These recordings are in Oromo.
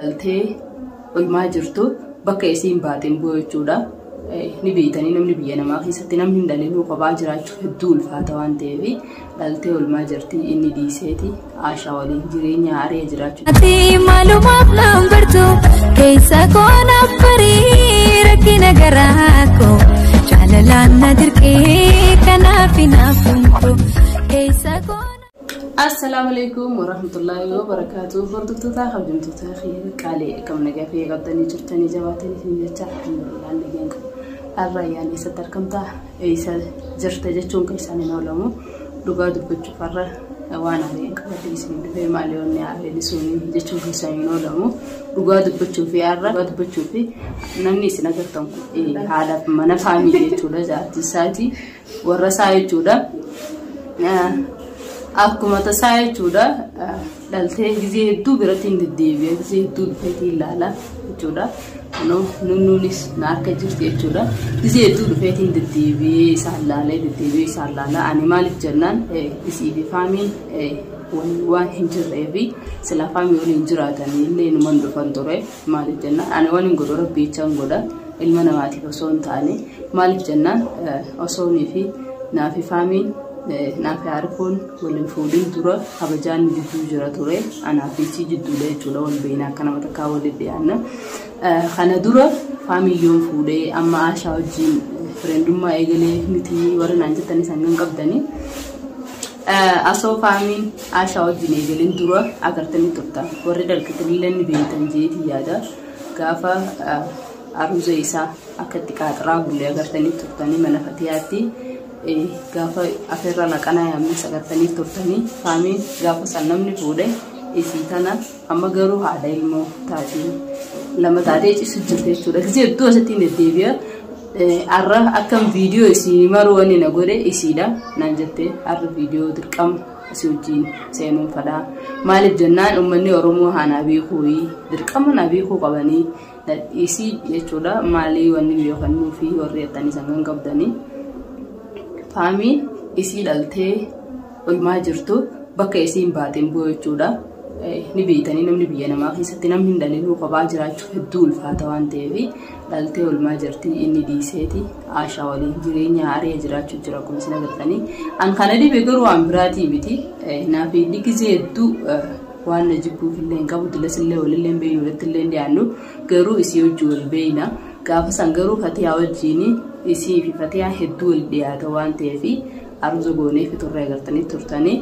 dhaltee olmaa jirtu bakka isiin baateen bu'u jechuudha. Ni beeytanii namni biyya namaa keessatti namni hin dhalinuu kophaa jiraachuu hedduu ulfaata waan ta'eef dhaltee olmaa jirti inni dhiiseeti aashaa waliin jireenya haaraa jiraachuu. Ati maalumaaf naan bartu keessa koo naaf barii rakkina garaa koo jaalalaan na dirqee kanaaf hin hafuun koo keessa koo. Assalaamu alaikum warahmatullaahi wabarakaatu hordoftoota kabajamtoota kiyya qaalee akkam nagaa kiyya qabdanii jirtanii jabaatanii isin jecha alhamdulillah nagaan qabu har'a ayyaana eessatti argamta eessa jirta jechuun kan isaan hin oolamu dhugaa dubbachuuf har'a waan haaleen qabadee isin dhufee maal yoonni haaleen isin jechuun kan isaan hin oolamu dhugaa dubbachuu fi har'a dhugaa dubbachuu fi namni isin agartan kun haadha mana faamii jechuudha jaartii isaatii warra isaa jechuudha. Akkuma tasaa jechuudha dhaltee gizee hedduu biratti hin deddeebi'e gizee hedduu dhufeetii ilaala jechuudha. Kunoo nunnuunis na harka jirti jechuudha. Gizee hedduu dhufeetii hin deddeebi'ee isaan laalee deddeebi'ee isaan laala. Ani maaliif jennaan isii fi faamiin waan hin jirreefi silaa faamii waliin jiraatanii illee numan dhufan ture. Maaliif jennaan ani waan hin godhu rabbiichaan godha ilma namaatiif osoo hin taane maaliif jennaan osoo fi naafi faamiin naafi harkuun waliin fuudhin dura kabajaan gidduu jira ture anaa fi isii jidduudha jechuudha wal beeyna akka nama takkaa waliin dhiyaanna. Kana dura faamiyyoon fuudhee amma aashaa wajjin fireendummaa eegalee miti warri naan jettanis hangam qabdanii. Asoofaamiin Aashaa wajjin eegaleen dura agartanii turtan. Warri dalqitaniillee ni beektan jeetii yaada. Gaafa aruuza isaa akka itti qaaxaraa bullee agartanii turtanii mana fatiyaatti gaafa afeerraa laqanaa yaamnes agartanii turtanii faamiin gaafa san namni fuudhe isii tana Amma garuu haadha ilmoo taatiin lama taatee cisu jirte jechuudha. Gisee hedduu asitti hin deddeebi'a. Har'a akkam viidiyoo isin maruu wanni na godhe isiidha naan jette har'a viidiyoo dirqama asii wajjin seenuun fadhaa. Maaliif jennaan uummanni Oromoo haanaa beekuu dirqama naa beekuu qabanii isii jechuudha maalii wanni beekannuu fi warri jettanii sangan qabdanii. Faamii isii dhaltee Olmaa jirtu bakka isiin baateen bu'u jechuudha. Ni beeytanii namni biyya namaa keessatti namni hin dhalinuu kophaa jiraachuuf hedduu ulfaata waan ta'eef dhaltee olmaa jirti inni dhiiseeti aashaa waliin jireenya haarii jiraachuu jira kun isin agartanii. An kana dhibe garuu waan biraatii miti. Naaf inni gizee hedduu waan na jibbuuf illee hin qabu dilas illee walillee hin beeynu irratti illee hin dhiyaannu garuu isii hojii wal beeyna. Gaafa san garuu fatiyaa wajjiin isii fi fatiyaa hedduu wal dhiyaata waan ta'eef Haaromsa goonee fixurree agartanii turtanii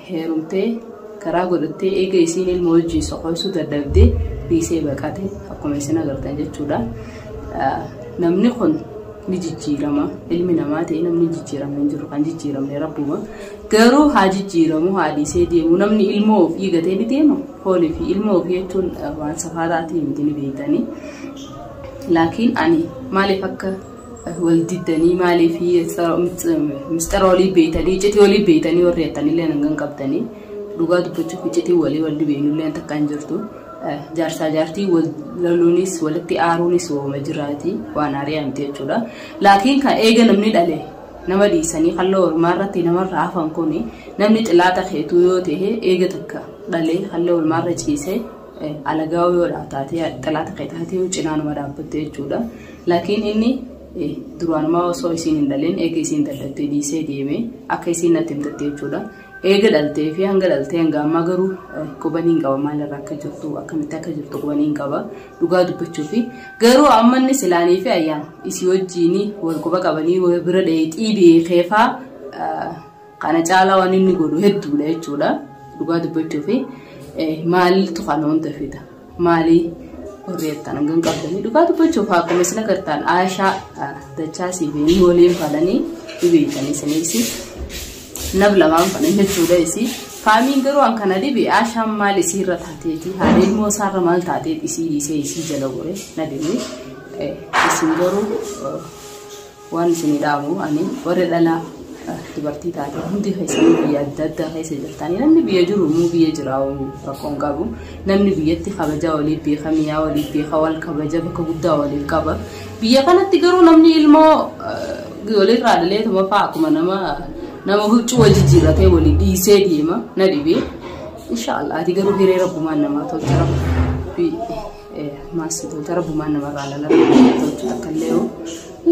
heerumtee karaa godhattee eega isiin ilma wajjin soqoysuu dadhabdee dhiisee baqate akkuma isin agartan jechuudha. Namni kun ni jijjiirama ilmi namaa ta'e namni jijjiirame hin jiru kan jijjiiramne rabbuma garuu haa jijjiiramu haa dhiisee deemu namni ilmoo ofii gatee ni deema foonii fi ilmoo ofii jechuun waan safaa taatee miti ni beektanii laakiin ani maaliif akka wal diddanii maaliif mistara walii beeytanii iccitii walii beeytanii warri jettanillee hangan qabdanii dhugaa dubbachuuf iccitii walii wal dibeeyinullee takka hin jirtu jaarsaa jaartii wal laluunis walitti aaruunis wooma jiraati waan aariyaa miti jechuudha laakiin kan eega namni dhale nama dhiisanii halloo ormaa irratti namarraa hafan kun namni xilaata keetuu yoo ta'e eega takka dhalee halloo ormaa irra ciisee Alagaawuu yoo taate xalaata kee taatee yoo cinaanuma dhaabbatte jechuudha. Laakiin inni duraanumaa osoo isiin hin dhalin eega isiin dadhabdee dhiisee deeme akka isiin natti himtatte jechuudha. Eega dhaltee fi hanga dhaltee hanga ammaa garuu qubanii hin qaba maalirra akka jirtu akkamitti akka jirtu qubanii hin qaba dhugaa dubbachuu fi garuu amma inni silaanii fi ayyaan isii wajjiin wal quba qabanii wal bira dheeyxii beekeefaa Kana caalaa waan inni godhu hedduudha jechuudha. Dhugaa dubbachuuf maaltu kana hunda fida? Maalii warri jettan hangam qabdanii? Dhugaa dubbachuuf akkuma isin agartan Aashaa dachaa siif inni waliin falanii ni beektanii isiniisi. Nab lamaan falan jechuudha isii. Faamiin garuu an kana dhibe Aashaan maal isiirra taateeti? Haala ilmoo isaarra maal taateet isii dhiisee isii jala gore na dhibe. Isin garuu Waan isinii dhaamu ani warri dhala dubartii taate hundi keessanii biyya adda addaa keessa jirtanii namni biyya jiru immoo biyya jiraa'u rakkoon qabu namni biyyatti kabajaa waliif beeka miyaa waliif beeka wal kabaja bakka guddaa waliif qaba biyya kanatti garuu namni ilmoo waliirraa dhalee tumafaa akkuma nama nama huccuu wal jijjiirratee walii dhiisee deema na dhibee inshaallah ati garuu hiree rabbumaan namaa tolcha rabbi Maasitoota rabbumaan namarraa lala tolchu takka illee yoo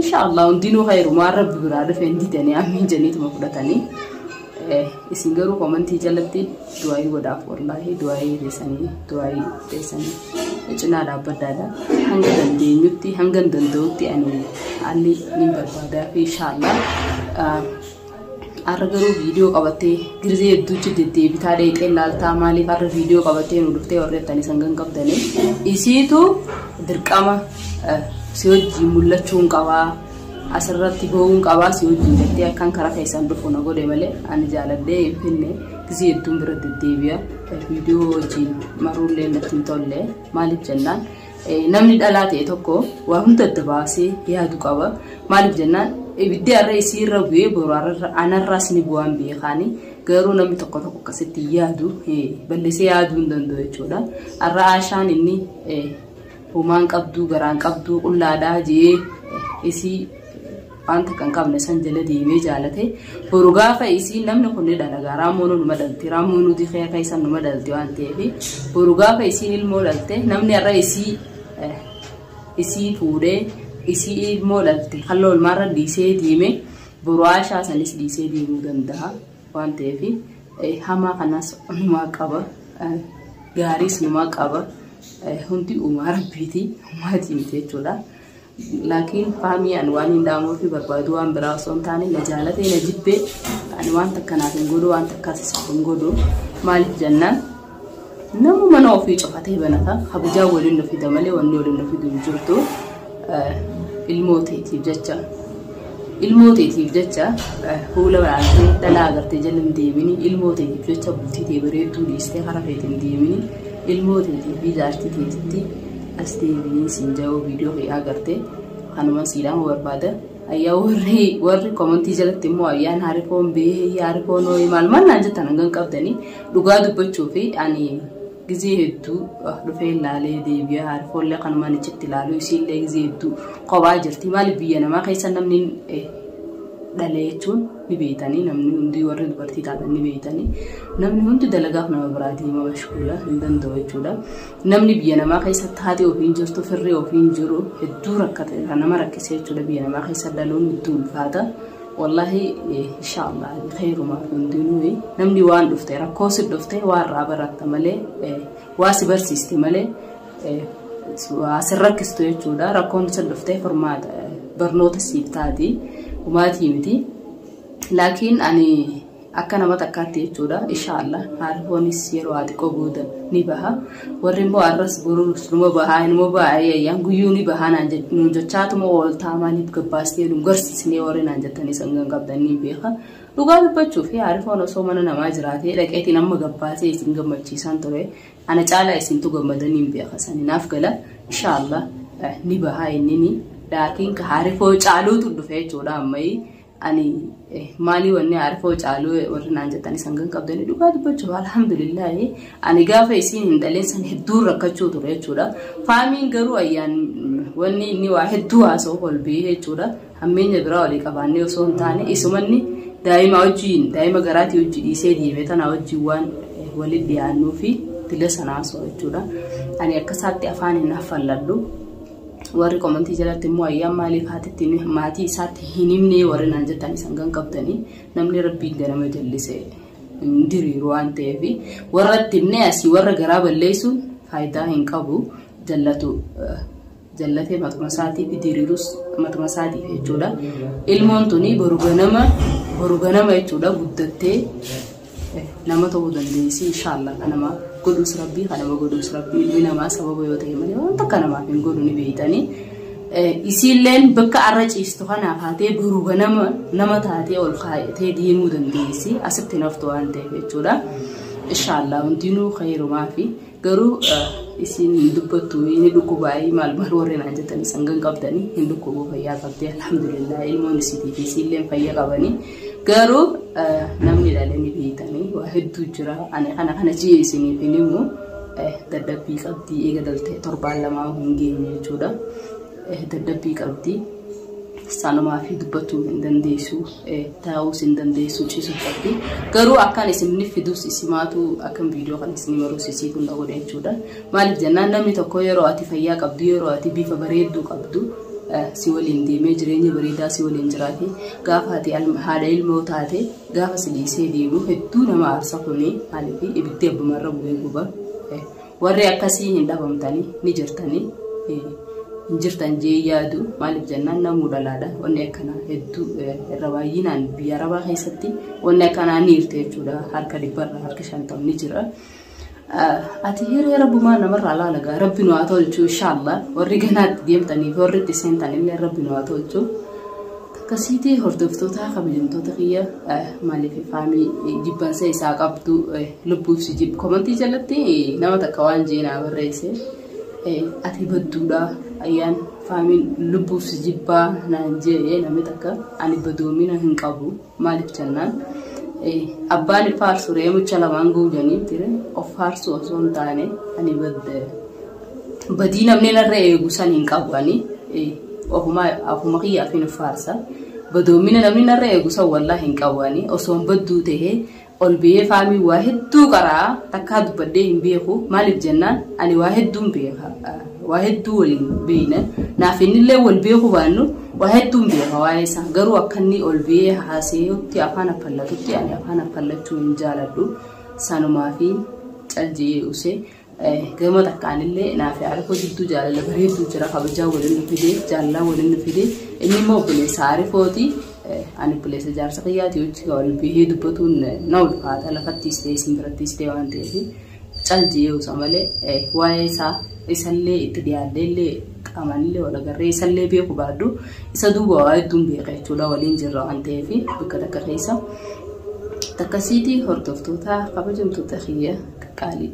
inshaallah hundinuu hayrumaa rabbi biraa dhufe hin didanii ammiin janiituma fudhatanii isin garuu komantii jalatti du'aayii godhaaf wallaahi du'aayii teessanii du'aayii teessanii cinaa dhaabbaddaadha hanga dandeenyutti hanga danda'utti ani haalli ni barbaadaa fi inshaallah Har'a garuu viidiyoo qabattee girzee hedduutti deddeebitaa dheexee laaltaa maaliif har'a viidiyoo qabattee nu dhuftee warri jettanii sangan qabdanii isiitu dirqama eh, si wajjin mul'achuun qabaa asirratti ba'uun qabaa si wajjin jettee akkan karaa keessan dhufu na godhe malee ani jaaladhee hin finne gizee hedduun bira deddeebi'a viidiyoo wajjin maruullee natti hin tolle maaliif jennaan Namni dhalaa ta'e tokko waa hunda adda baasee yaadu qaba. Maaliif jennaan ibiddi har'a isii irra bu'ee boru anarraas ni bu'aan beekaani. Garuu namni tokko tokko akkasitti yaadu balleessee yaaduu hin danda'u jechuudha. Har'a Aashaan inni homaan qabduu garaan qabduu qullaadhaa jee isii waan takka hin qabne san jala deemee jaalate boru gaafa isiin namni kun ni dhalaga raamoonuu numa dhalti raamoonuu dikee keessan numa dhalti waan ta'eef boru gaafa isiin ilmoo dhalte namni har'a isii eh, isii fuudhee isii ilmoo dhalte halloo ilmaarra dhiisee deeme boru aashaa sanis dhiisee deemuu danda'a waan ta'eef eh, hamaa kanas numaa qaba eh, gaariis numaa qaba eh, hundi uumaa rabbiiti uumaatii miti jechuudha. Laakiin Faamii an waaniin dhaamuufii barbaadu waan biraa osoo hin taane na jaalatee na jibbee ani waan takka naaf hin godhu waan takkaas isaaf hin godhu maaliif jennaan nama mana ofii cufatee banata kabajaa waliin nu fida malee wanni waliin nu fidu hin jirtu eh, ilmoo teetiif jecha ilmoo teetiif jecha eh, fuula banaatee dhalaa agartee jala hin deemini ilmoo teetiif jecha bultii tee bareedduu dhiistee karaa feete hin deemini ilmoo teetiif fi jaartii teetitti As deebi'ee siin ja'oo viidiyoo kee agartee kanuma siidhaama barbaada. Ayyaa warri warri komantii jalatti immoo ayyaan harikoon bee harikoon hooyi maal maal naan jettan hangan qabdanii dhugaa dubbachuu fi ani gizee hedduu dhufee ilaalee deebi'ee harikoollee kanumaan achitti ilaaluu isiillee gizee hedduu kophaa jirti maaliif biyya namaa keessa namni dhalee jechuun ni beeytanii namni hundi warri dubartii taatan ni beeytanii namni hundi dalagaaf nama biraa deema mashkuula hin danda'u jechuudha. Namni biyya namaa keessa taatee ofiin jirtu firri ofiin jiru hedduu rakkate kan nama rakkisee jechuudha biyya namaa keessa dhaluun hedduu ulfaata. Wallaahi inshaallah kheyrumaa hundinuu namni waan dhufte rakkoo si dhufte waa irraa baratta malee waa si barsiiste malee waa si rakkistu jechuudha rakkoon si dhufte furmaata barnoota siif taati humaatii miti. Laakiin ani Akka nama takkaatti jechuudha. Insha Allah haalhoonis yeroo haa xiqqoo booda ni baha. Warri immoo arras borus numa baha numa baha ayyaan guyyuu ni baha naan jech- nuun jechaatuma ooltaa maaliif gabbaastee nu garsiisnee warri naan jettanii sangan qabdan ni beeka. Dhugaa dubbachuuf haarifoon osoo mana namaa jiraatee dhaqeetiin amma gabbaasee isin gammachiisaan ture. Ana caalaa isintu gammadanii hin beeka sani naaf gala. Insha Allah eh, ni baha innini. Laakiin ka haarifoo caaluutu dhufe jechuudha ammayii. ani maalii wanni arifoo caaluu warri naan jettan isan kan qabdanii dhugaa dubbachuuf alhamdulillaahi ani gaafa isiin hin dhaleen san hedduun rakkachuu ture jechuudha faamiin garuu ayyaan wanni inni waa hedduu haasoo kolbii jechuudha hammeenya biraa walii qabaannee osoo hin taane isumanni daa'ima wajjiin daa'ima garaatii hojii dhiisee deeme tanaa wajjiin waan waliin dhiyaannuu fi dila sana haasoo jechuudha ani akkasaatti afaan hin haffalladhu warri komantii jalatti immoo ayyaan maaliif haatitti maatii isaatti hin himnee warri naan jettan isan kan qabdanii namni rabbiin ganama jallise hin diriiru waan ta'eef warratti himnee asii warra garaa balleessuun faayidaa hin qabu jallatu jallatee matuma isaatiif diriirus matuma isaatiif jechuudha ilmoon tuni boru ganama boru ganama jechuudha guddattee nama ta'uu dandeessi inshaallah kan nama godhuus rabbii kan nama godhuus rabbii ilmi namaa sababa yoo ta'e malee waan takka namaaf hin godhu ni beeytanii isiilleen bakka arra ciistu kanaaf haatee duruu ganama nama taatee ol kaayatee deemuu dandeessi asitti naftu waan ta'eef jechuudha inshaallah hundinuu khayrumaa fi Garuu isiin hin dubbattu inni dhukkubaayii maal maal warri naan jettan isan gan qabdanii hin dhukkubuu fayyaa qabdee alhamdulillah ilmoon isiitii fi isiilleen fayya qabanii garuu namni dhalee ni beeytanii waa hedduu jira ani kana kana jee isiniif hin himu dadhabbii qabdii eega daltee torbaan lamaa hin geenye jechuudha. dadhabbii qabdi. Salumaafi dubbachuu hin dandeessu, taa'uus hin dandeessu, ciisuu qabdi. Garuu akkaan isinni fiduus isimaatu akkan viidiyoo kana isin maruus isii kun na godhe jechuudha. Maaliif jennaan namni tokko yeroo ati fayyaa qabdu, yeroo ati bifa bareedduu qabdu si waliin deemee jireenya bareedaa si waliin jiraate gaafa ati haadha ilmoo taate gaafa si dhiisee deemu hedduu nama aarsa kuni maaliif ibiddi abbumarra bu'ee guba. Warri akkasii hin dhabamtanii ni jirtanii hin jirtan jee yaadu maaliif jennaan namuu dhalaadha wanni akkanaa hedduu irra baay'inaan biyya arabaa keessatti wanni akkanaa ni jirti jechuudha harka dhibbarra harka shantam ni jira. Ati hiree rabbumaa namarraa laalagaa rabbi nu haa tolchu inshaallah warri ganaatti deemtaniif warri itti seentan illee rabbi nu haa tolchu. Akkasiiti hordoftootaa kabajamtoota kiyya maaliif faamii jibbansa isaa qabdu lubbuuf si jibbu komantii jalatti nama takka waan jee naa barreesse ati badduudha ayyaan faamiin lubbuuf si jibbaa naan jee namni takka ani badoomina hin qabu maaliif jennaan abbaan faarsu reemucha lamaan guujanii tire of faarsuu osoo hin taane ani badde Badii namni narra eegu san hin qabu ani ofuma ofuma kiyyaaf hin faarsa. Badoommina namni narra eegu san wallaa hin qabu ani osoon badduu ta'e ol biyee faamii waa hedduu qaraa takkaa dubbadhee hin beeku maaliif jennaan ani waa hedduun beeka waa hedduu waliin beeyna naaf innillee wal beeku baannu waa hedduun beeka waa'ee isaa garuu akka inni ol biyee haaseetti afaan affallatutti ani afaan affallachuu hin jaaladhu sanumaa fi calji'ee usee. Gama takkaanillee naaf Arifoo jidduu jaalala bareedduu jira kabajaa waliin nu fidee jaalalaa waliin nu fidee inni immoo obboleessa Arifooti ani obboleessa jaarsa kiyyaati hojii wal bihee dubbatuun na ulfaata lafattiis ta'ee isin birattiis ta'ee waan ta'eef cal jiyee usa malee waa'ee isaa isallee itti dhiyaadhee illee qaamanillee wal agarree isallee beeku baadhu isa duuba waa hedduun beeka jechuudha waliin jirra waan ta'eef bakka takka keessa takkasiitii hordoftoota kabajamtoota kiyya. Qaqqaalii.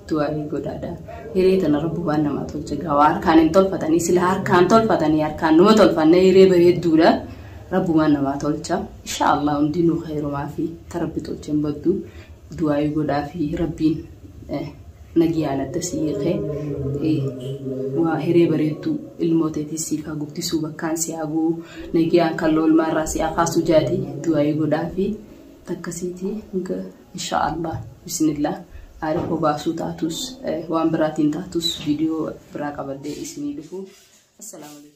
Du'aa'ii godhaadha. Hiree tana rabbu waan namaa tolche gaa waa harkaan hin tolfatanii sila harkaan tolfatanii harkaan numa tolfanne hiree bareedduudha. Rabbu waan namaa tolcha. Insha Allah hundinuu khayrumaa fi ta rabbi tolche hin baddu. Du'aa'ii godhaa fi rabbiin nagiyaan adda si hiikee waa hiree bareedduu ilmoo teetii siif haa guddisuu bakkaan si haa guu nagiyaan kan loolmaa irraa si haa kaasu jaati du'aa'ii godhaa fi takkasiitii Inshaa Allah bismillah aada koo baasuu taatus waan biraatiin taatus viidiyoo biraa qabadhee isinii dhufu. Assalaamu alaikum.